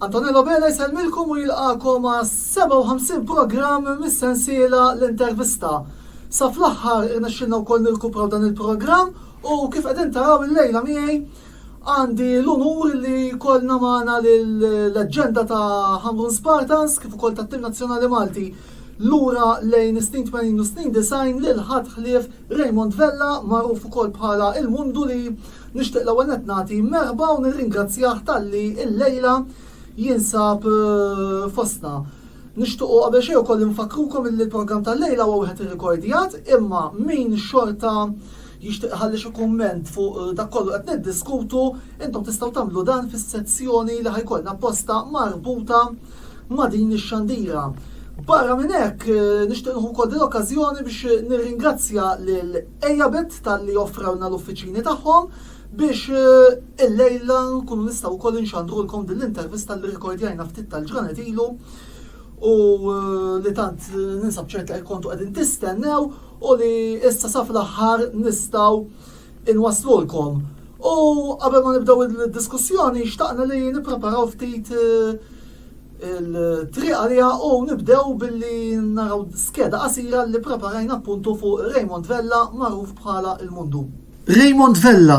Antonello Bela jsellmilkom u jilqakom għas 57 programm mis-sensiela l-intervista. Sa fl-aħħar irnexxilna wkoll nilkupraw dan il-programm u kif qegħdin taraw il-lejla miegħi Għandi l-unur li jkollna magħna l-leġġenda ta' Ħamrun Spartans kif ukoll tat-tim nazzjonali Malti lura lejn is-snin 80 u snin 90 lil ħadd ħlief Raymond Vella magħruf ukoll bħala il-Mundu li nixtieq l-ewwel nett nagħti merħba u nirringrazzjah talli illejla jinsab fostna. Nixtiequ qabel xejn ukoll infakkrukom illi l-programm tal-lejla huwa wieħed irrikordjat imma min xorta Jixtieq iħalli xi kumment fuq dak kollu qed niddiskutu, intom tistgħu tagħmlu dan fis-sezzjoni li ħajkollna apposta marbuta ma' din ix-xandira. Barra minn hekk, nixtieq nieħu wkoll din l-okkażjoni biex nirringrazzja lil Ejabet talli offrewlna l-uffiċini tagħhom biex illejla nkunu nistgħu wkoll inxandrulkom din l-intervista li rrikordjajna ftit tal-ġranet ilu u li tant ninsab ċert li kontu qegħdin tistennew u li issa sa fl-aħħar nistgħu nwasslulkom. U qabel ma nibdew id-diskussjoni xtaqna li nippreparaw ftit il-triq għalija u nibdew billi naraw skeda qasira li preparajna appuntu fuq Raymond Vella magħruf bħala il-Mundu. Raymond Vella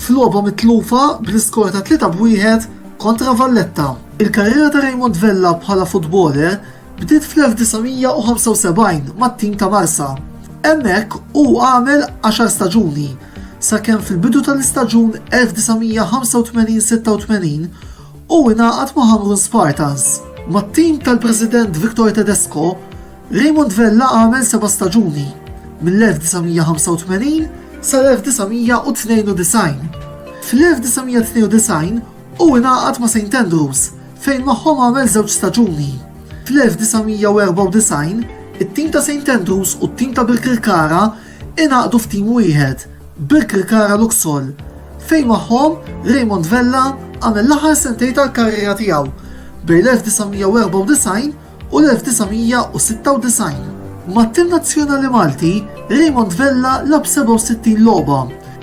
f'logħba mitlufa bl-iskor ta' 3 b' 1 kontra Valletta. Il-karriera ta' Raymond Vella bħala futboler bdiet fl-1975 mat-tim ta' Marsa. Hemmhekk hu għamel għaxar staġuni, sakemm fil-bidu tal-istaġun 1985-86 hu ingħaqad ma' Ħamrun Spartans. Mat-tim tal-President Victor Tedesco, Raymond Vella għamel seba' staġuni, mill-1985 sal-1992. Fl-1992 hu ingħaqad ma' Saint Andrews fejn magħhom għamel żewġ staġuni. Fl-1994 it-tim ta' Saint Andrews u t-tim ta' Birkirkara ingħaqdu f'tim wieħed, Birkirkara Luxol, fejn magħhom Raymond Vella għamel l-aħħar sentejn tal-karriera tiegħu bejn l-1994 u u l-1996. Mat-tim nazzjonali Malti, Raymond Vella lagħab 67 logħba,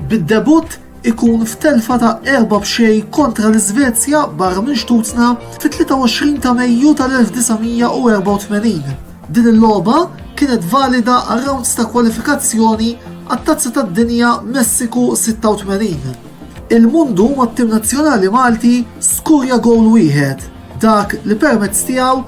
bid-debutt ikun f'telfa ta' erba' b'xejn kontra l-Iżvezja barra minn xtutna fit-23 ta' Mejju tal-1984. Din il-logħba kienet valida għar-rounds ta' kwalifikazzjoni għat-Tazza tad-Dinja Messiku 86. Il-Mundu mat-tim nazzjonali Malti skurja gowl wieħed. dak li permezz tiegħu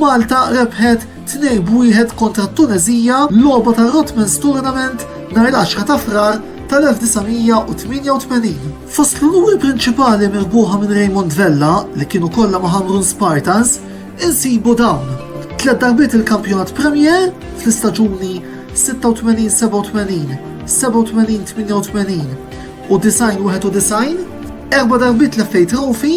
Malta rebħet 2 b'wieħed kontra t-Tuneżija logħba tar-Rotmans Tournament nhar l-10 ta' Frar tal-1988. Fost l-unuri prinċipali mirbuħa minn Raymond Vella li kienu kollha ma' Hamrun Spartans insibu dawn. Tlet darbiet il-kampjonat Premier fl-istaġuni 86-87, 87-88 u 90-91, erba darbiet l-FA Trophy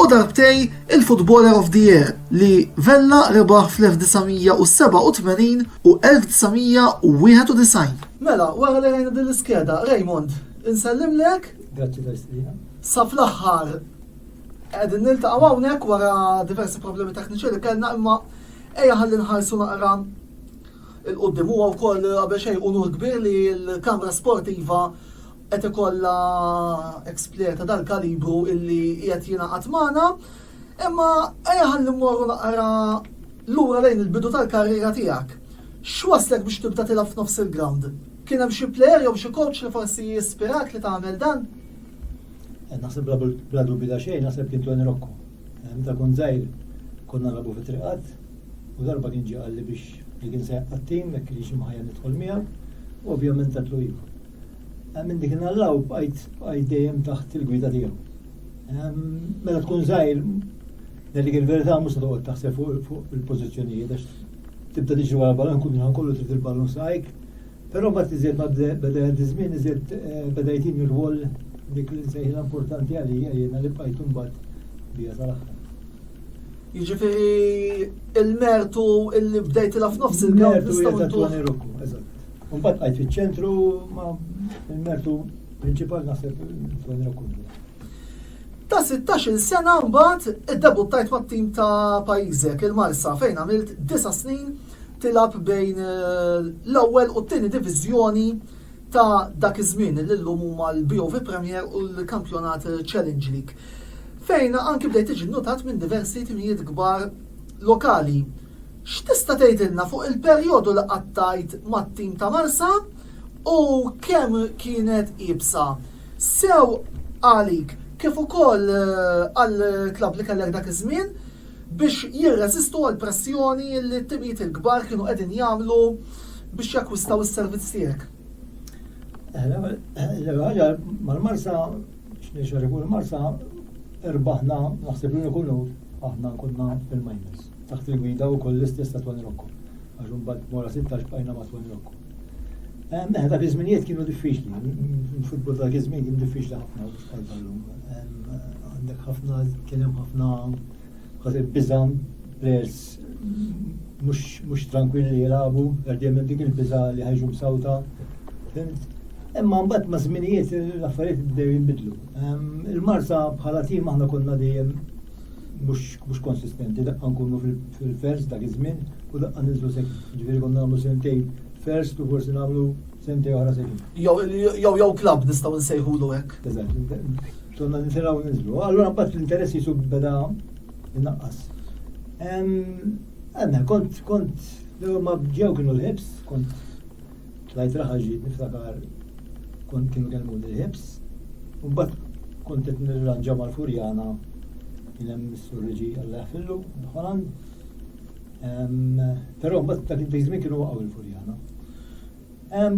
u darbtej il-Footballer of the Year li Vella rebaħ fl-1987 u 1991. Mela, wara li rajna din l-iskeda, Raymond, insellimlek. Grazzi tal-istqina. Sa fl-aħħar qegħdin niltaqgħu hawnhekk wara diversi problemi tekniċi li kellna imma ejja ħalli nħarsu naqra il-qoddim huwa wkoll qabel xejn unur kbir li l-Kamra Sportiva qed ikollha ex player ta' dal-kalibru illi qiegħed jingħaqad magħna, imma ejja ħalli mmorru naqra lura lejn il-bidu tal-karriera tiegħek. X'waslek biex tibda tilgħab f'nofs il-ground? Kien hemm xi player jew xi coach li forsi jispirak li tagħmel dan? Eh, naħseb bla dubju ta' xejn, naħseb kien Tony Rocco. Eh, meta kun żgħir konna nagħbu fi triqat u darba kien ġie qalli biex li kien se jaqqa' tim, jekk kienx imħajja nidħol miegħu, u ovvjament tatlu ilu. Eh, minn dik nallaw bqajt bqajt dejjem taħt il-gwida tiegħu. Mela tkun żgħir Dik il-verità mhux toqgħod taħseb fuq il-pożizzjonijiet għax tibda tiġi wara ballun kun ħan kollu trid il-ballun sajk. Però ma tiżjed ma beda żmien iżjed eh, beda jtin ir-rwol dik li nsejħilha importanti għalija jiena li bqajt imbagħad bija tal-aħħar. Jiġifieri il-mertu illi bdejtilha f'nofs il-mertu ta' Tony Rocco, eżatt. Mbagħad qajt fiċ-ċentru ma l-mertu prinċipal naħseb Antonio Kundu. Ta' 16 sena mbagħad iddebuttajt mat-tim ta' pajjiżek il-Marsa fejn għamilt 9 snin tilab bejn eh, l-ewwel u t-tieni diviżjoni ta' dak iż-żmien li llum huma l-BOV Premier u l-Kampjonat Challenge League. Fejn anki bdejt tiġi notat minn diversi timijiet kbar lokali X'tista' tgħidilna fuq il-perjodu li qattajt mat-tim ta' Marsa u kemm kienet iebsa sew għalik kif ukoll għall-klabb li kellek dak iż-żmien biex jirreżistu għall-pressjoni li t-timijiet il-kbar kienu qegħdin jagħmlu biex jakkwistaw is-servizz tiegħek? L-ewwel ħaġa mal-Marsa, x'nixtieq ngħid fuq il-Marsa, irbaħna naħseb l-uniku logħob aħna konna fil-minors. Taħt il-gwida wkoll l-istess ta' Tony Rocco, għax imbagħad mora 16 bqajna ma' Tony Rocco. Ehm, eh, dak iż-żminijiet kienu diffiċli, il-futbol dak iż-żmien kien diffiċli ħafna biex bħal tal-lum. Ehm, għandek ħafna, kien hemm ħafna ħażin biża' players mhux tranquilli li jilagħbu, għardjem dik il-biża' li ħajġu msawta. Imma mbagħad ma' żminijiet l-affarijiet bdew jinbidlu. Ehm, Il-Marsa bħala tim aħna konna dejjem mhux konsistenti, daqqa nkunu fil-first dak iż-żmien u daqqa ninżlu sekin. Ġifieri konna nagħmlu sentej first u forsi nagħmlu sentej oħra sekin. Jew jew klabb nistgħu nsejħulu hekk. Eżatt, konna nitilgħu ninżlu. Allura mbagħad l-interess jisu beda innaqqas. Għandna kont kont ma ġew kienu l-ħibs, kont Tlajt raħal ġid niftakar kont kienu kellmuni l-ħibs u mbagħad kont qed nirranġa mal-furjana kien hemm is-surriġi Alla jaħfillu l-Ħoland. Però mbagħad dak id-dejżmin kienu waqgħu l-furjana.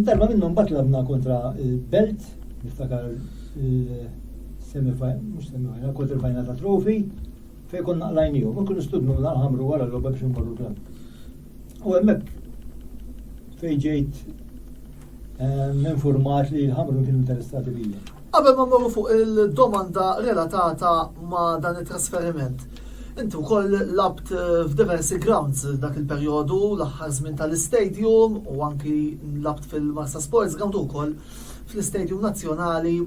Darba minnhom mbagħad labna kontra l-belt niftakar il-semifinal, mhux semifinal, kontra l-final ta' trofi fejn konna qlajnihom u kienu studnu naqħamru wara l-logħba biex imorru l-klabb. U hemmhekk fejn ġejt ehm, informat li l-ħamru kienu interessati bija. Qabel ma mmorru fuq il-domanda relatata ma' dan it-trasferiment, inti wkoll labt eh, f'diversi grounds dak il-perjodu, l-aħħar żmien tal-istadium u anki labt fil-Marsa Sports ground ukoll fl-istadium nazzjonali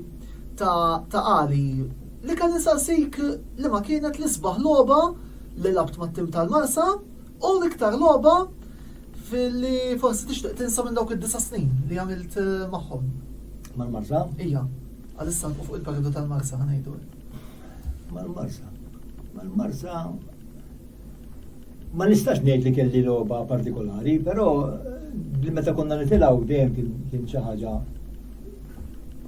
ta' Ali. Li kan insaqsik li ma kienet l-isbaħ logħba li labt mat-tim tal-Marsa U l-iktar logħba fil-li forsi tixtieq tinsa minn dawk id-disa snin li għamilt eh, magħhom. Mal-marsa? Ija, għalissa nqu fuq il-periodu tal-marsa ħanajdu. Mal-marsa. Mal-marsa. Ma nistax ngħid li kelli logħba partikolari, però eh, li meta konna nitilgħu dejjem kien xi ħaġa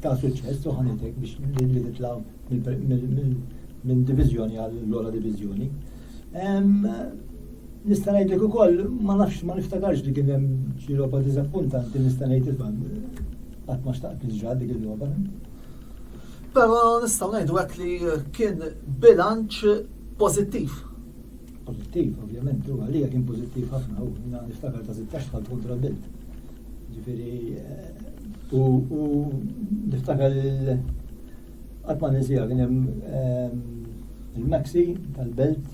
ta' suċċess u ħanitek biex li nitlaw minn divizjoni għall-lora divizjoni. Nista' ngħidlek ukoll ma nafx ma niftakarx li kien hemm xi logħba diżappuntanti nista' ngħid isma' qatt ma xtaqt niġra dik il-logħba. Però nistgħu ngħidu hekk li kien bilanċ pożittiv. Pożittiv, ovvjament, u għalija kien pożittiv ħafna u niftakar ta' 16 tal kontra bilt. Ġifieri eh, u niftakar Għall-Paneżija kien hemm il-Maxi tal-Belt,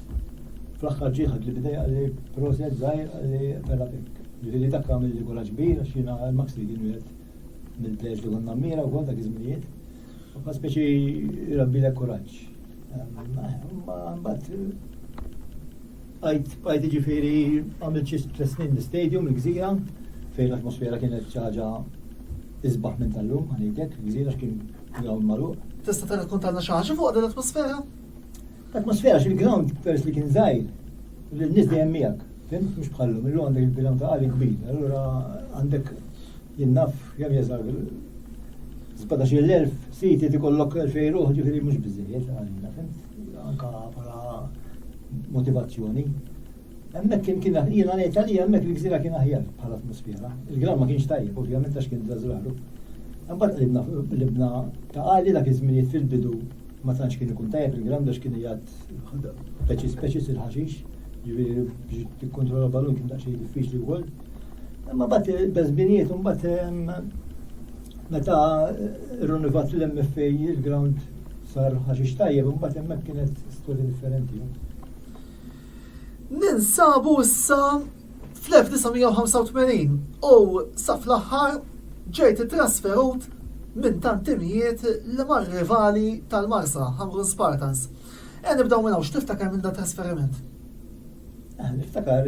fl-aħħar ġie ħadli b'idejh qal li proset żgħir qal li ferra pikk. Ġifieri dak għamilli kuraġġ kbir għax jiena l-Maxi kien wieħed mill-plejers li konna mmira wkoll dak iż-żminijiet. Huwa speċi jrabbilek kuraġġ. Mbagħad Għajt, għajt iġifiri għamil ċis tlet snin l-stadium, l-gżira, fejn l-atmosfera kienet ċaġa izbaħ minn tal-lum, għanidek, l-gżira kien ground malu. Tista ta' kontanna xaġa fuq din l-atmosfera? L-atmosfera xil-ground pers li kien zaħir, l-nis dejjem miegħek, fim, mhux bħallu, mill għandek il-ground ta' għalik kbir, allura għandek jinnaf jam jeżar 17.000 siti ti kollok 2000 ruħ ġifiri mux bizzijiet għalina, fim. anka bħala motivazzjoni. Hemmhekk kien kien jiena ngħid għalija hemmhekk il-gżira kien aħjar bħala atmosfera. Il-gram ma kienx tajjeb, ovvjament għax kien żrażraru. Imbagħad qribna qribna ta' għali dak iż-żminijiet fil-bidu ma tantx kien ikun tajjeb il-gram għax kien jgħid speċi speċi il-ħaxix, jiġifieri biex tikkontrolla balun kien daqsxejn diffiċli wkoll. Imma bat il-bezbinijiet, un bat meta r-runivat l-MF il-ground sar ħaxix tajjeb, un bat emmek kienet storja differenti. Ninsabu issa fl-1985 u sa fl-aħħar ġejt trasferut minn tantimijiet li mar rivali tal-Marsa, Hamrun Spartans. E nibdaw minn hawn x'tiftakar minn da trasferiment? Niftakar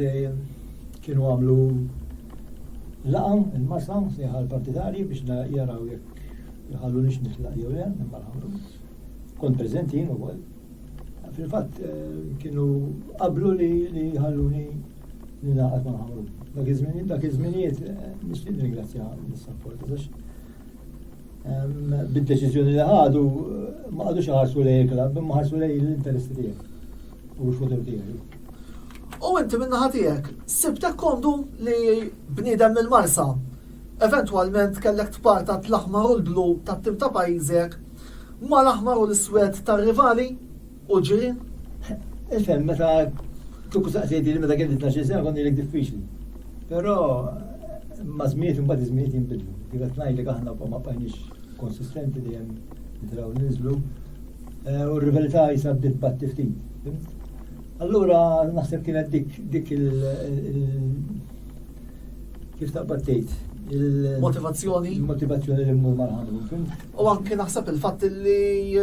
kienu għamlu laqa il-masa sejħa l-partitarji biex jaraw jekk jħallu nix nitlaq jew le, imma l-ħamru. Kont preżenti jien ukoll. Fil-fatt eh, kienu qablu li jħalluni li naqgħod ma' ħamru. Dak iż-żmien dak iż-żminijiet eh, nixtieq ringrazzja l-sapport għax Bid-deċiżjoni li ħadu ma qadux ħarsu lej il-klabb, imma ħarsu lej l-interessi tiegħek u l-futur tiegħek. U inti minna ħatijek, sibtek kondu li bnidem mill-marsa, eventualment kellek tparta t-laħmar u l-blu ta' tim ta' pajizek, ma l-aħmar u l-swed ta' rivali, U ġi, ifhem meta kieku saqsejti li meta kelli 12 sena konni lek diffiċli. Però ma żmiet imbagħad iż-żmiet jinbidlu. Kif qed ngħidlek aħna wkoll ma bqajniex konsistenti li hemm nitraw ninżlu. Eh, u r-rivelità jisa bdiet batti ftit. Allura naħseb kienet dik dik il kif taqbad tgħid il-motivazzjoni il-motivazzjoni li mmur mal-ħamru. U anki naħseb il-fatt li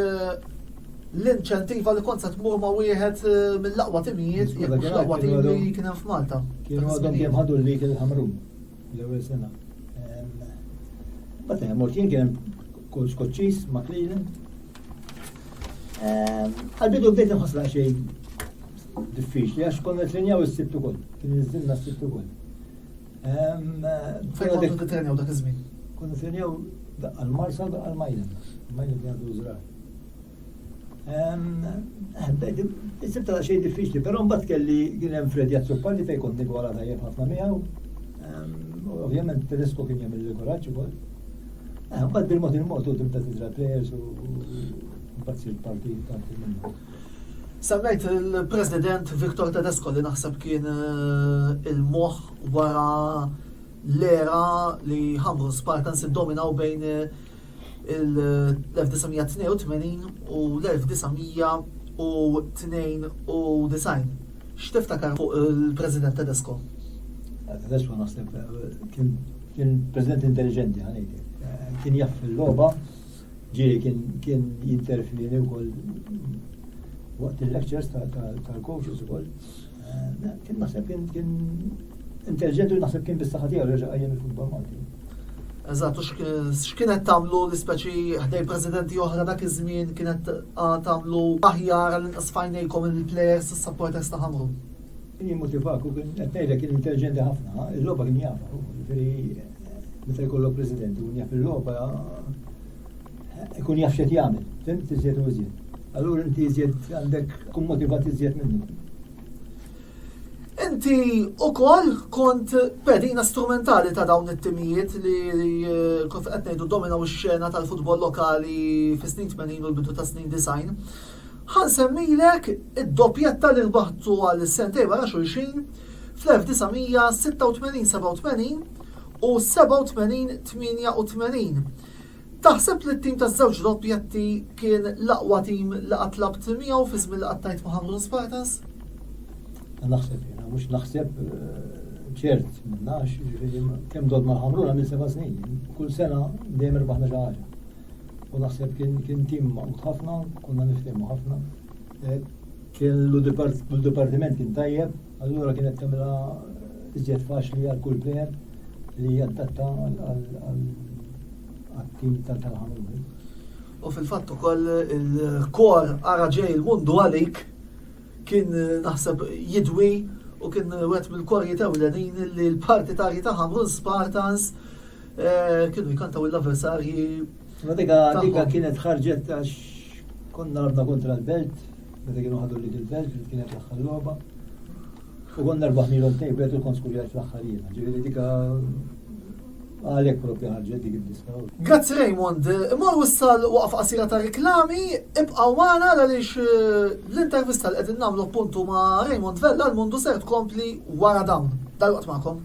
l-inċentiva li kont se tmur ma' wieħed eh, mill-aqwa timijiet, jekk mhux l-aqwa tim li kien hemm f'Malta. Kienu għadhom kemm ħadu li kien ħamrun l-ewwel sena. Bata hemm kien kien kull skoċċis ma' Cleveland. Għal-bidu bdejt nħossla xejn diffiċli għax konna tlinjaw is-sibt ukoll, kien iżilna s-sibt ukoll. Fejn kont nitrenjaw dak iż-żmien? Kont nitrenjaw għal-marsa għal-majlem. Majlem kien għadu żrar. Sibta ta' xejn diffiċli, però mbagħad kelli kien hemm Fred Jazzupalli fejn kont nigwala tajjeb ħafna miegħu. Ovvjament Tedesco kien jagħmel il-kuraġġ ukoll. Mbagħad bil-mod il-mod u tibda tiżra players u mbagħad sir parti parti minnu. Semmejt il-President Victor Tedesco li naħseb kien eh, il-moħ wara l-era li ħamru Spartans id-dominaw bejn eh, l-1982 u l-1992. X'tiftakar fuq il-President Tedesco? Tedesco naħseb eh, kien president intelligenti ħanejdi. Kien jaff il-logħba Ġieli kien kien jinterfini wkoll waqt il-lectures tal-coaches ukoll. Eh, kien naħseb kien kien intelligenti u naħseb kien bis-saħħa tiegħu reġa' qajjem il-futbol Malti. Eżatt, u x'kienet tagħmlu l-ispeċi ħdej presidenti oħra dak iż-żmien kienet tagħmlu aħjar għal inqas fajnejkom il-players is-supporters ta' ħamru. Jien motivak u kien qed ngħidlek kien intelligenti ħafna, il-logħba kien jafa, jiġifieri meta jkollok president u jaf il-logħba ikun jaf x'qed jagħmel, fim tiżjed u iżjed. Allura inti iżjed għandek kun motivat iżjed minnu. Inti u koll kont pedina strumentali ta' dawn it-timijiet li eh, kont qed ngħidu dominaw ix-xena tal-futbol lokali fis-snin 80 u l-bidu ta' snin design. Ħa nsemmilek id-doppjetta li rbaħtu għal sentejn wara xulxin fl-1986 87 u 87 88. Taħseb li t-tim taż-żewġ doppjetti kien l-aqwa tim li qatt labt miegħu fi żmien li qattajt ma' Ħamrun Spartans? Naħseb jiena, mhux naħseb eh, ċert minnax, kemm dod ma' Ħamrun għamil seba' snin. Kull sena dejjem irbaħna xi ħaġa. u naħseb kien tim maqut ħafna, konna niftehmu ħafna. Eh, kien l-dipartiment kien tajjeb, allura kienet tagħmilha eh, iżjed faċli għal kull plejer li jaddatta għal-tim tal-ħamil. U fil-fatt ukoll il-kor ara ġej il-mundu għalik kien eh, naħseb jidwi u kien wet mill-korji ta' l-parti ta' ta' Hamrun Spartans Kienu jkantaw l-avversarji. Ma dika dika kienet ħarġet għax konna rabna kontra l-belt, meta kienu ħadu li il-belt li kienet l-aħħar logħba. U konna rbaħ milhom tejbet u kont skurjat fl-aħħar jiena. Ġifieri dika għalek propja ħarġet dik id-diska. Grazzi Raymond, imma wissal waqf qasira ta' reklami, ibqaw magħna għaliex eh, l-intervista li qegħdin nagħmlu puntu ma' Raymond Vella l-mundu ser tkompli wara dawn. Dal-waqt magħkom.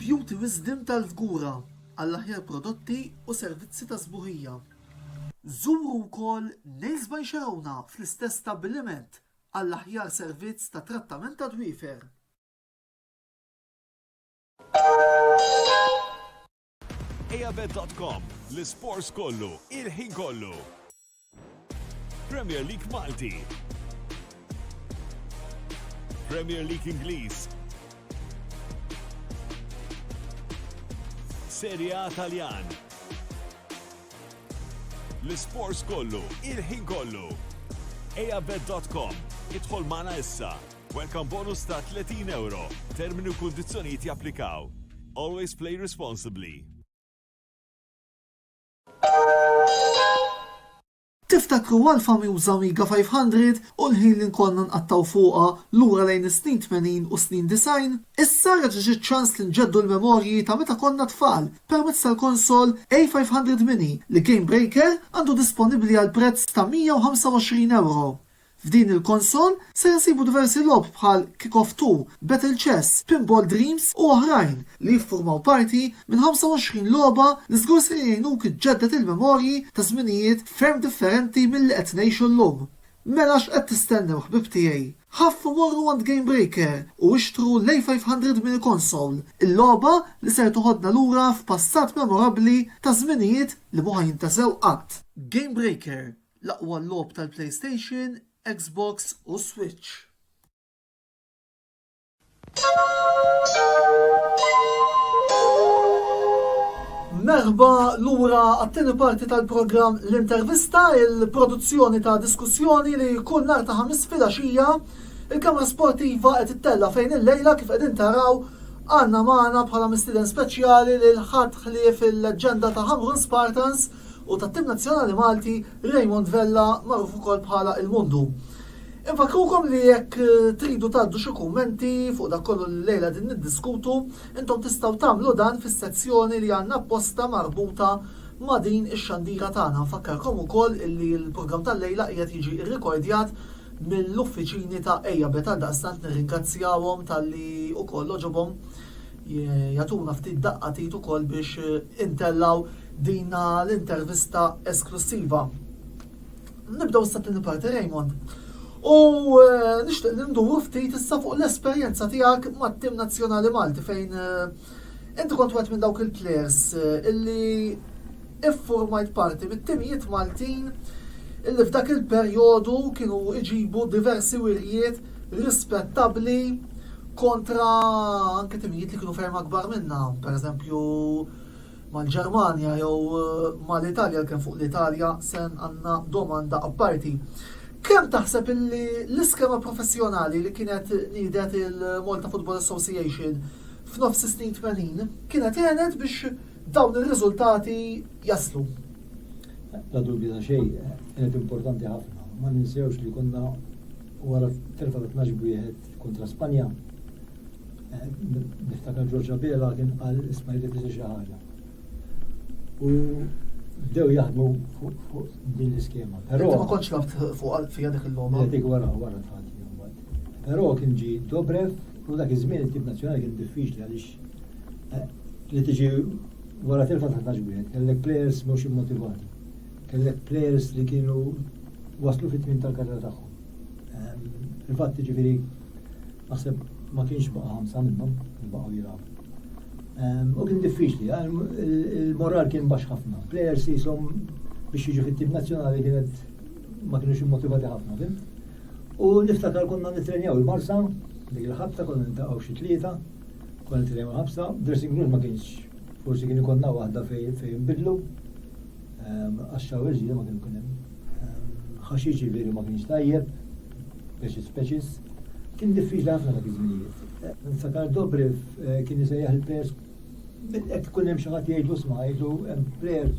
Beauty Wisdom tal-Fgura għall-aħjar prodotti u servizzi ta' sbuħija. Żuru wkoll Nails by Xerona fl-istess stabbiliment għall-aħjar servizz ta' trattament tad-dwiefer. Ejabet.com, l-isports kollu, il-ħin kollu. Premier League Malti. Premier League Ingliż. Serie A Taljan. L-isports kollu, il-ħin kollu. Ejabet.com, idħol mana issa. Welcome bonus ta' 30 euro. Termini u kundizzjonijiet japplikaw. Always play responsibly. Tiftakru għall-famiuża Amiga 500 u l-ħin li nkollna nqattgħu fuqha lura lejn is-snin tmenin u s-snin disgħin? Issa reġa' ġie ċ-ċans li nġeddu l-memorji ta' meta konna tfal permezz tal-konsol A500 Mini li Game Breaker għandu disponibbli għal prezz ta' 125 euro. F'din il-konsol ser insibu diversi logħob bħal Kick Off Two, Battle Chess, Pinball Dreams u oħrajn li jiffurmaw parti minn 25 logħba li żgur ser jgħinuk iġġedded il-memorji ta' żminijiet ferm differenti milli qed ngħixu llum. Mela x'qed tistennew ħbieb tiegħi? Ħaffu morru għand Gamebreaker u ixtru l-A500 Mini Console, il-logħba li ser toħodna lura f'passat memorabbli ta' żminijiet li mhu ħa jintesew qatt. Gamebreaker, L-aqwa logħob tal-PlayStation, Xbox u Switch. Merħba lura għat-tieni parti tal-programm L-Intervista, il-produzzjoni ta' diskussjoni li kull nhar ta' ħamis filgħaxija il-Kamra Sportiva qed ittella fejn il-lejla kif qegħdin taraw għandna magħna bħala mistieden speċjali lil ħadd ħlief il-leġġenda ta' Hamrun Spartans u tat-tim nazzjonali Malti Raymond Vella magħruf ukoll bħala il-Mundu. Infakrukom li jekk tridu tgħaddu xi kummenti fuq dak kollu li llejla din niddiskutu, intom tistgħu tagħmlu dan fis-sezzjoni li għandna apposta marbuta ma' din ix-xandira tagħna. Nfakkarkom ukoll illi l-programm tal-lejla qiegħed jiġi rrikordjat mill-uffiċini ta' Ejja Bet għaldaqstant nirringrazzjawhom talli ukoll għoġobhom jagħtuna ftit daqqa t'id ukoll biex intellgħu dina l-intervista esklussiva. Nibdew issa tieni parti Raymond. U eh, nixtieq li nduru ftit issa fuq l-esperjenza tiegħek mat-tim nazzjonali Malti fejn eh, inti kont wieħed minn dawk il-players eh, illi iffurmajt parti mit-timijiet Maltin illi f'dak il-perjodu kienu iġibu diversi wirjiet rispettabbli kontra anke timijiet li kienu ferm akbar minna, pereżempju mal-Ġermanja jew mal-Italja kemm fuq l-Italja sen għandna domanda apparti. Kemm taħseb illi l-iskema professjonali li kienet nidet il-Malta Football Association f'nofs is-snin 80 kienet għenet biex dawn ir-riżultati jaslu. La dubju ta' xejn, kienet importanti ħafna. Ma ninsewx li konna Wara t-telfa ta' tnax b'wieħed kontra Spanja, niftakar George Abela kien qal isma' jrid isir xi ħaġa. U bdew jaħdmu fuq din l-iskema. Però ma kontx laft fuq fija dik il-logħba. Dik wara wara tħati. Però kien ġi Dobrev u dak iż-żmien it-tip nazzjonali kien diffiċli għaliex eh, li tiġi wara telfa ta' taġbiet, kellek players mhux immotivati. Kellek plejers li kienu waslu fit-tmiem tal-karriera tagħhom. Ehm, fil-fatt jiġifieri naħseb ma kienx baqa' ħamsa minnhom li baqgħu jilgħabu. Ehm, u kien diffiċli, ehm, il-moral kien baxx ħafna. Plejers jisom biex jiġu fit-tim nazzjonali kienet ma kienux immotivati ħafna, fim? U niftakar konna nitrenjaw il-marsa, dik il-ħabta konna nintaqgħu xi tlieta, konna nitrenjaw il-ħabsa, dressing room ma kienx forsi kien ikonna waħda fejn bidlu, Għax xawers ġiri ma kienu kien hemm. Ħaxix ġifieri ma kienx tajjeb, speċis speċis. Kien diffiċli ħafna dak iż-żminijiet. Sakar Dobrev eh, kien jisejjaħ il-pers Ek kun hemm xi ħadd jgħidu sma' jgħidu hemm prayer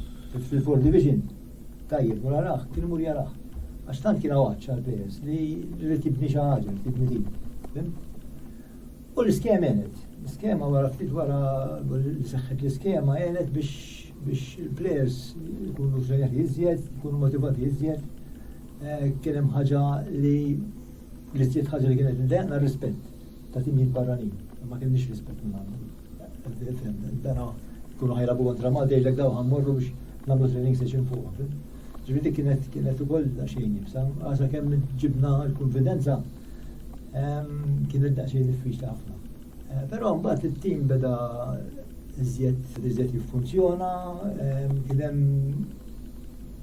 fil-Four Division. Tajjeb, mura raħ, kien mur jaraħ. Għax tant kien għawaċċa l-pers li rrid tibni xi ħaġa, tibni din. U l-iskema għenet. L-iskema wara ftit wara li seħħet l-iskema għenet biex il-plejers jkunu ġenjati iżjed, jkunu motivati iżjed. Eh, kien hemm ħaġa li li żjed ħaġa li kienet ndejqna rispett ta' timijiet barranin. Ma kienx rispett minn għandhom. Dana kunu ħajrabu kontra Malta jgħidlek daw ħammorru biex nagħmlu training session fuq. Ġifieri kienet kienet ukoll xejn jibsa, għasa kemm ġibna l-konfidenza Kien id-daqsxejn diffiċli ħafna. Eh, però mbagħad it-tim beda iżjed iżjed jiffunzjona, kien hemm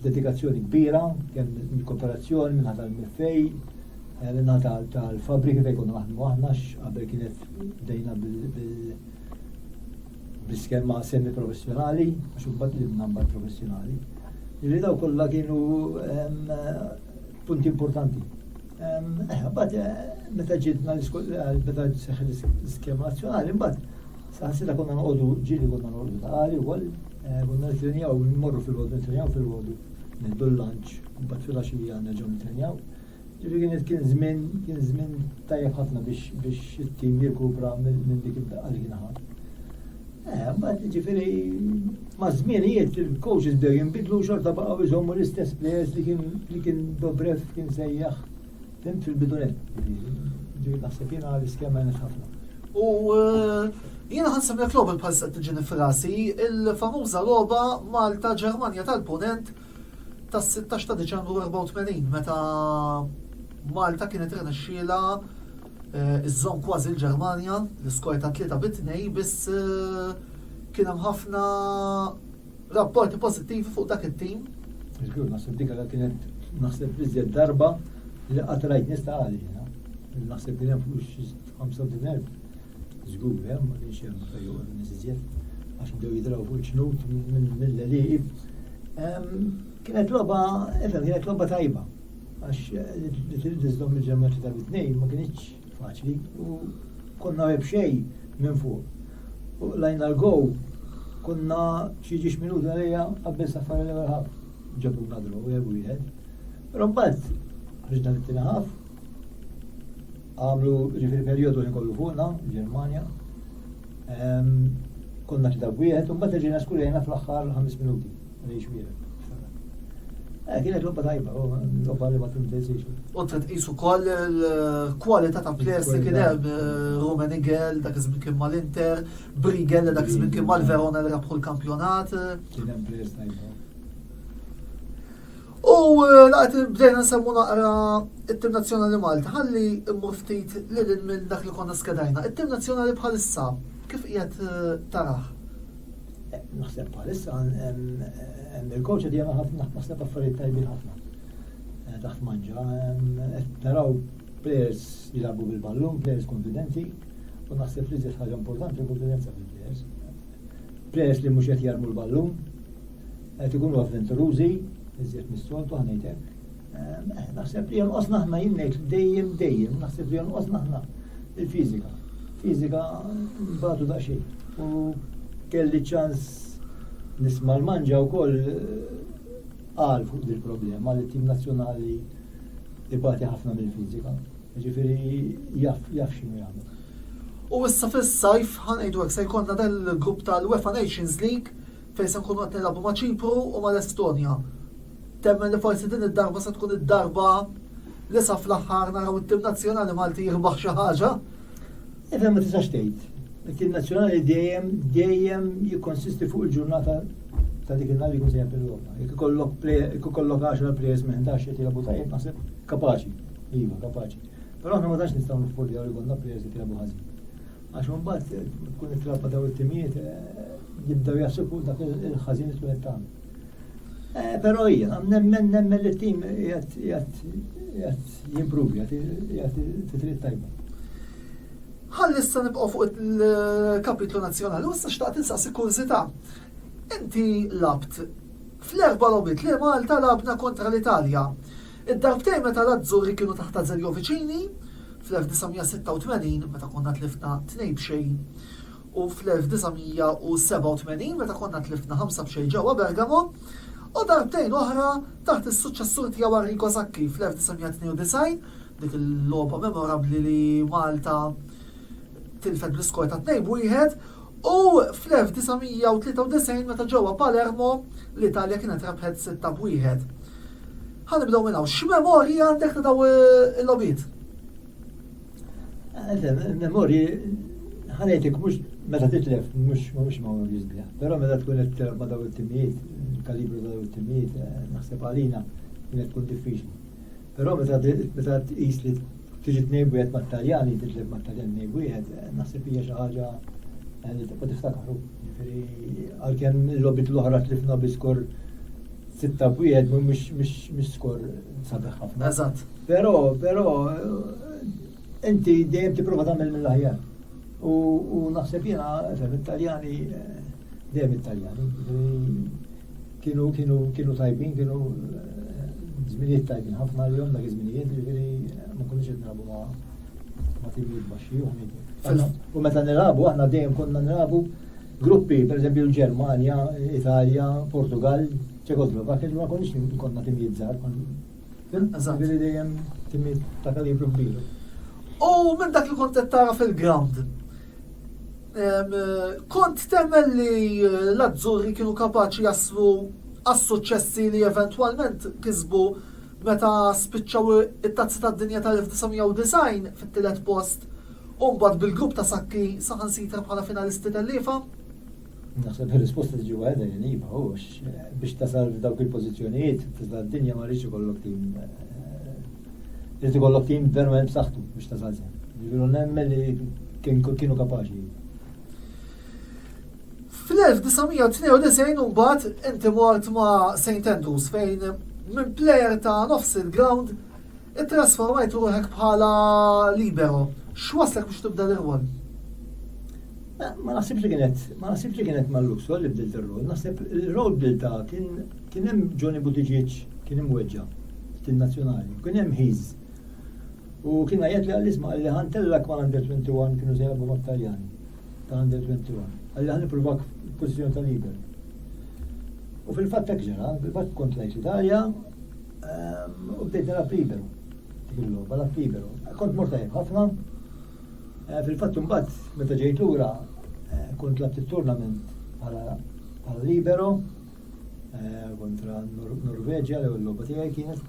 dedikazzjoni kbira, kemm mill-kooperazzjoni minn ħadd l-MFA, eh, minn ħadd tal-fabrika fejn konna naħdmu aħna qabel kienet bdejna bil bl-iskema semi professjonali, għax imbagħad li namba professjonali. Li daw kollha kienu punti importanti. Mbagħad meta ġidna meta seħħet l-iskema nazzjonali, mbagħad saħansita konna noqogħdu ġieli konna noqogħdu taqali wkoll, eh, konna nitrenjaw mmorru fil-għodu nitrenjaw fil-għodu niddu l-lunch, mbagħad fil-għaxija nerġgħu nitrenjaw. Ġifieri kien żmien kien żmien tajjeb ħafna biex biex it-tim jirkupra minn dik id-daqqa li kien ħadd. Eh, mbagħad ġifieri Maż-żminijiet il-coaches bdew jinbidlu u xorta baqgħu jżommu l-istess players li kien li kien Dobrev kien sejjaħ fim fil-bidunet. Ġifieri naħseb jiena l-iskema nħax ħafna. U eh, Jiena ħansib li klobal bħal sa' tiġini frasi, il-famuża logħba Malta Ġermanja tal-Punent tas-16 ta' Diċembru 84 meta Malta kienet renexxiela Iżżomm kważi l-Ġermanja, l-iskor ta' tlieta bi tnejn biss kien hemm ħafna rapporti pożittivi fuq dak it-tim. Żgur, naħseb dik għal kienet naħseb iżjed darba li qatt rajt nista' għali. Naħseb kien hemm fuq xi 35,000. Żgur, hemm ma kienx hemm fejn joqgħod nies iżjed għax bdew jidraw fuq il-ġnut mill-leliqib. Kienet logħba, kienet logħba tajba. Għax li trid iżżomm il-ġemgħa tlieta bi tnejn ma kinitx faċli u konna għeb xejn minn fuq. U lajna l-gow konna xi ġiex minuta lejja qabbel safar l-ewwel ħaf. Ġabu nadru jew wieħed. Però mbagħad ħriġna mit-tieni ħaf għamlu ġifieri perjodu li kollu fuqna, Ġermanja. Konna tlieta wieħed u mbagħad ġejna skurjajna fl-aħħar ħames minuti. Eh, kienet lobba tajba, lobba li ma tintensiex. U t tqisu koll il-kwalità ta' players li kien hemm eh, Rumen Igel, dak iż-żmien kien mal-Inter, Brigel, dak iż-żmien kien mal-Verona li rabħu l-kampjonat. Kien hemm players tajba. U eh, laqt bdejna nsemmu naqra it-tim nazzjonali Malta, ħalli immur ftit lil minn dak li konna skedajna. It-tim nazzjonali bħalissa, kif qiegħed taraħ? Naħseb bħalissa hemm il-kowċa di għana ħafna naħseb affarijiet tajbin ħafna. Eh, taħt manġa, taraw players jilabu bil-ballun, players konfidenti, u naħseb li zed ħaġa importanti konfidenza fil-players. Players li mhux qed jarmu l-ballun, qed ikunu avventurużi, iżjed mis-soltu ħanejtek, Naħseb li jonqosna aħna jien ngħid dejjem dejjem, naħseb li jonqosna aħna il-fiżika. Fiżika mbagħadu daqsxejn. U kelli ċans nisma' l-manġa wkoll qal eh, fuq il-problema li tim nazzjonali ibati ħafna mill-fiżika. Ġifieri jaf jaf x'inhu jagħmel. U issa fis-sajf ħanejdu hekk se jkollna dan il-grupp tal-UEFA Nations League fejn se nkunu qed nilagħbu ma' Ċipru u mal-Estonja. Temmen li forsi din id-darba se tkun id-darba li sa fl-aħħar naraw it-tim nazzjonali Malti jirbaħ xi ħaġa. Iva ma tistax tgħid. It-tim nazzjonali dejjem dejjem jikkonsisti fuq il-ġurnata ta' dik il-nar jkun se jempel Roma. Jekk ikollok player, jekk ikollok 10 players minn 11 qed jilagħbu tajjeb naħseb kapaċi. Iva, kapaċi. Però aħna ma tantx nistgħu niffoljaw li konna players qed jilagħbu ħażin. Għax mbagħad tkun it-trabba daw it-timijiet eh, jibdew jasuku dak il-ħażin li tkun tagħmel. Eh, però jiena nemmen nemmen li t-tim jgħat jimpruvi, jgħat titrit tajba. Ħalli issa nibqgħu fuq il-kapitlu nazzjonali, u issa xtaqt insaqsi kurzita. Inti labt fl-erba' lobit li Malta labna kontra l-Italja. Id-darbtejn meta l-Azzurri kienu taħt Azeglio Vicini, fl-1986 meta konna tlifna tnejn b'xejn u fl-1987 meta konna tlifna ħamsa b'xejn ġewwa Bergamo, u darbtejn oħra taħt is-suċċessur tiegħu Arrigo Sacchi fl-1992, dik il-logħba memorabbli li Malta tilfet bl-iskor ta' tnejn b'wieħed, U fl-1993 meta ġewwa Palermo, l-Italja kienet rebħet sitta b'wieħed. Ħa nibdew minn hawn. X'memorji għandek ta' daw il-logħbiet? Memorji ħanejtek mhux meta titlef mhux mhux ma' jisbja. Però meta tkun qed tilgħab ma' daw it-timijiet, kalibru daw it-timijiet, eh, naħseb għalina kienet tkun diffiċli. Però meta meta tqis li tiġi tnejn wieħed mat-Taljani, titleb mat-Taljani tnejn wieħed, eh, naħseb hija xi ħaġa eh, li tibqa' tiftakru. Jiġifieri għalkemm il-lobit l-oħra tlifna bi skor sitta wieħed mhux skor sabiħ ħafna. Eżatt. Però, però eh, inti dejjem tipprova tagħmel mill-aħjar. U naħseb jiena, Taljani, dejjem it-Taljani. Kienu kienu kienu tajbin, kienu żminijiet tajbin ħafna li dak iż-żminijiet jiġifieri ma kunniex qed nilagħbu ma' ma' timijiet baxxi u ħmidi. U meta nilagħbu aħna dejjem konna nilagħbu gruppi, pereżempju l-Ġermanja, Italja, Portugal, Ċekoslovakja, ma kunniex konna timijiet żgħar. Ġifieri dejjem timijiet ta' kalibru kbir. U minn dak li kont qed tara fil-ground, Kont temmen li l-Azzurri kienu kapaċi jaslu għas-suċċessi li eventwalment kisbu meta spiċċaw it-Tazza tad-Dinja tal-1990 fit-tielet post u mbagħad bil-grupp ta' Sacchi saħansitra bħala finalisti telliefa. Naħseb il-risposta tiġi waħda li niba, u biex tasal f'dawk il-pożizzjonijiet, tista' d-dinja ma rridx ikollok tim. Eh, irid ikollok tim verament b'saħħtu biex tasal sew. Jiġifieri nemmen li kienu kapaċi. Fl-1992 mbagħad inti mort ma' St. Andrews fejn minn plejer ta' nofs il-ground it-trasformajt ruħek bħala libero. X'waslek biex tibda l-irwol? Ma naħsibx li kienet, ma naħsibx li kienet ma' Luxor li bdilt ir-rol, naħseb il-rol bdilta kien kien hemm Johnny Buttigieg kien imweġġa' f'tin nazzjonali, kien hemm ħiż. U kien għajjat li għall-isma għalli ħantellak ma' under 21 kienu se jgħabu ma' Taljani ta' under 21. Għalli ħan ipprovak f'pożizzjoni ta' lider. U fil-fatt ta' ġara, fil-fatt kont lajt l-Italja ehm, u bdejt nara libero. Dik il-logħba la libero. Kont mortajb ħafna, Fil-fatt imbagħad meta ġejt lura kont labt it-tournament bħala libero kontra Norveġja l-ewwel logħba tiegħi kienet.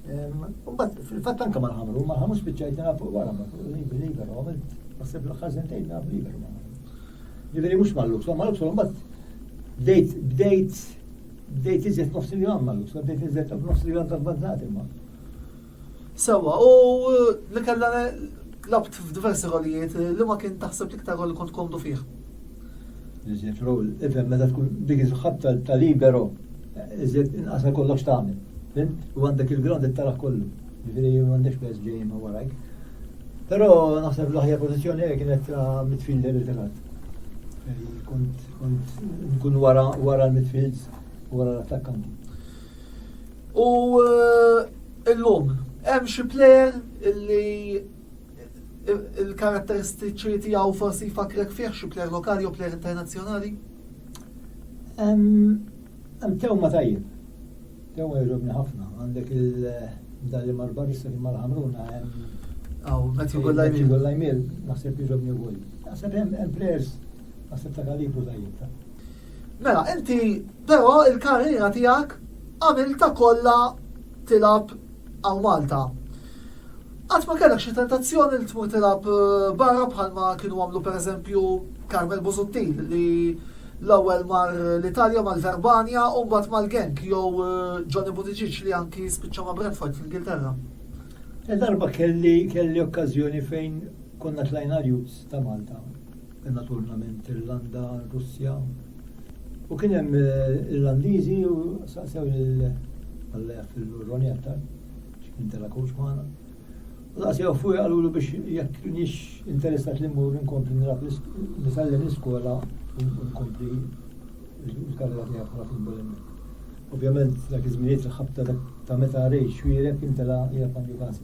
Imbagħad fil-fatt anke mal-ħamru, mal-ħamru spiċċajt nilgħab wara libero għamilt naħseb l-aħħar sentejn nilgħab libero. Ġifieri mhux mal-Luxor, mal-Luxor imbagħad bdejt bdejt bdejt iżjed nofs il-jom mal-Luxor, bdejt iżjed nofs il-jom tal-bazzati ma'. Sewwa, u li kellha labt f'diversi rolijiet li ma kien taħseb l-iktar rol li kont komdu fih? Iżjed rol, ifhem meta tkun dik iż-żħab ta' libero, iżjed inqas għal kollox tagħmel. Fim? U għandek il-ground qed taraħ kollu. Ġifieri m'għandekx pers ġejjin ma' warajk. Però naħseb l-aħjar pożizzjoni hekk kienet ta' midfielder irtirat. Kont nkun wara l-midfields u wara l-attakkanti. U illum hemm xi plejer illi il-karatteristiċi tiegħu forsi jfakrek fih xi plejer lokali u plejer internazzjonali? Hemm tew ma tajjeb. Tew jogħġobni ħafna. Għandek il-dan li mar barista li mar ħamruna hemm. Aw, Matthew Gollajmil. Gollajmil, naħseb jogħġobni wkoll. Naħseb hemm players naħseb ta' kalibru tajjeb. Mela, inti però il-karriera tiegħek għamilta kollha tilab għal Malta. Qatt ma kellek xi tentazzjoni li tmur tilab eh, barra bħalma kienu għamlu pereżempju Carmel Busuttil li l-ewwel mar l-Italja mal-Verbania u mbagħad mal-Genk jew eh, Johnny Buttigieg li anki spiċċa ma' Brentford fl-Ingilterra. Darba kelli kelli okkażjoni fejn konna tlajna l-Jus ta' Malta Naturlament Irlanda, Russja. U kien hemm eh, Irlandiżi u saqsew lil Alla jaffillu Ronnie aktar, x'kien tela coach magħna. U saqsew fuq qalulu biex jekk nix interessat li mmur nkompli nilgħab nisallem l-iskola u nkompli l-karriera tiegħi bħala futbol Ovvjament dak iż-żminijiet il-ħabta ta' meta rejx xwierek kien tela' jgħab għandu każ.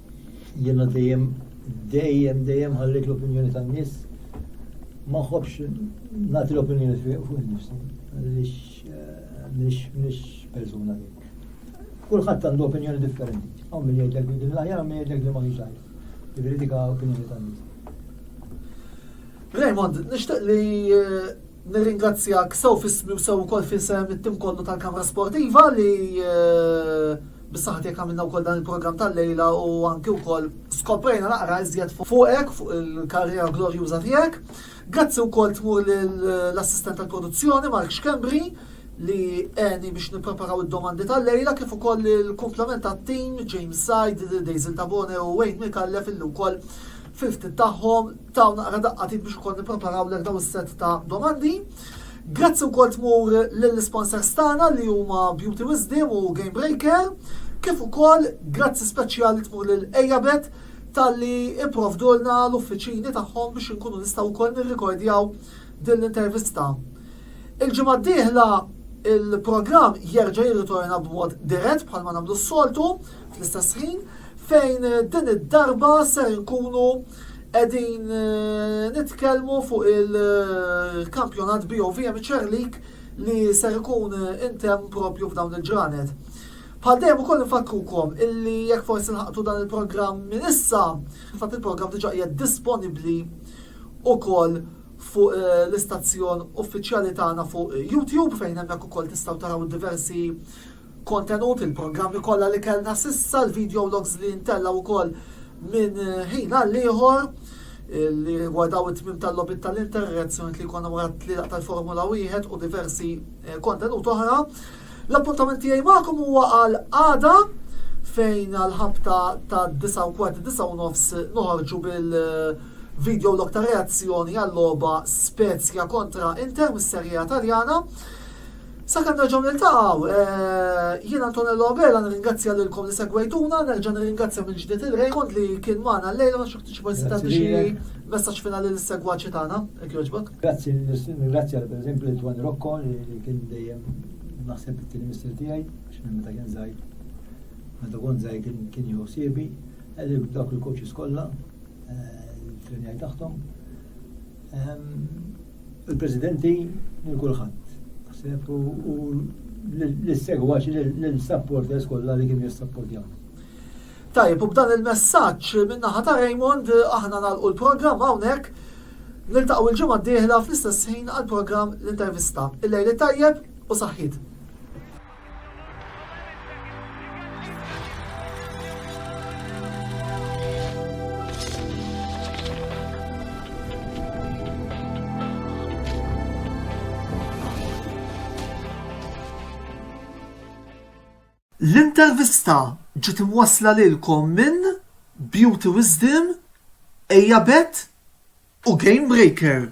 Jiena dejjem dejjem dejjem ħallejt l-opinjoni tan-nies ma nħobbx nagħti l-opinjoni fuq innifsi għaliex eh, mhix persuna dik. Kulħadd għandu opinjoni differenti. Hawn min jgħidlek li din l-aħjar min jgħidlek li ma hix aħjar. Jiġri dik opinjoni tan-nies. Raymond, nixtieq li eh, Nirringrazzjak sew f'ismi u sew ukoll f'isem it-tim kollu tal-Kamra Sportiva li bis-saħħa tiegħek għamilna wkoll dan il-programm tal-lejla u anki wkoll skoprejna naqra iżjed fuqek fuq il-karriera glorjuża tiegħek. Grazzi wkoll tmur lill-assistent tal-produzzjoni Mark Schembri li għeni biex nippreparaw id-domandi tal-lejla kif ukoll il-komplement tat-tim James Said, Daisy Tabone u Wayne Mikallef illi wkoll fil-ftit tagħhom Tawna għara daqqatit biex ukoll nippreparaw lek daw is-set ta' domandi. Grazzi wkoll tmur lill-sponsors tagħna li huma Beauty Wisdom u Game Breaker, kif ukoll grazzi speċjali tmur lil Ejabet tal-li ipprovdulna l-uffiċini tagħhom biex inkunu nistgħu wkoll nirrikordjaw din l-intervista. Il-ġimgħa d-dieħla il-programm jerġa' jirritorna b'mod dirett bħalma nagħmlu s-soltu fl-istess ħin fejn din id-darba ser nkunu Qegħdin nitkellmu fuq il-kampjonat BOV Amateur League li ser ikun intemm propju f'dawn il-ġranet. Bħal dejjem ukoll nfakkukom illi jekk forsi nħaqtu dan il-programm minn issa, fatt il-programm diġà qiegħed disponibbli ukoll fuq eh, l-istazzjon uffiċjali tagħna fuq YouTube fejn hemmhekk ukoll tistgħu taraw diversi Kontenut, il-programmi kollha li kellna s'issa, l-videologs li ntellgħu wkoll minn ħin għal ieħor li rigwardaw it-tmiem tal-logħbiet tal-Inter, ir-reazzjonijiet li jkollna wara t-tlielaq tal-Formula Wieħed u diversi eh, kontenut oħra. L-appuntament tiegħi magħkom huwa għal għada fejn għal-ħabta ta' 9 u kwart 9 u nofs noħorġu bil- eh, video log ta' reazzjoni għall-loba Spezia kontra Inter mis-Serja Taljana. Sakemm nerġgħu niltaqgħu, jien Antonello Abela nirringrazzja lilkom li segwejtuna, nerġa' nirringrazzja mill-ġdid il Raymond li kien magħna llejla ma xi forsi tagħti xi messaġġ finali lis-segwaċi tagħna, jekk jogħġbok. Grazzi, nirringrazzja pereżempju lil Twan Rocco li kien dejjem naħseb it-tieni missier tiegħi, għax minn meta kien żgħir. Meta kont żgħir kien jew siebi, dak il-coaches kollha, il-trenjaj tagħhom, Il-Presidenti lil kulħadd. U l-segwaċi l-supporters kollha li kienu jissapportjaw. Tajb, u b'dan il-messaġġ min-naħa ta' Raymond aħna nagħlqu l-programm hawnhekk niltaqgħu l-ġimgħa d-dieħla fl-istess ħin għall-programm l-intervista. Il-lejli tajjeb u saħħit. L-intervista ġiet imwassla lilkom minn Beauty Wisdom, Ejjabet u Gamebreaker.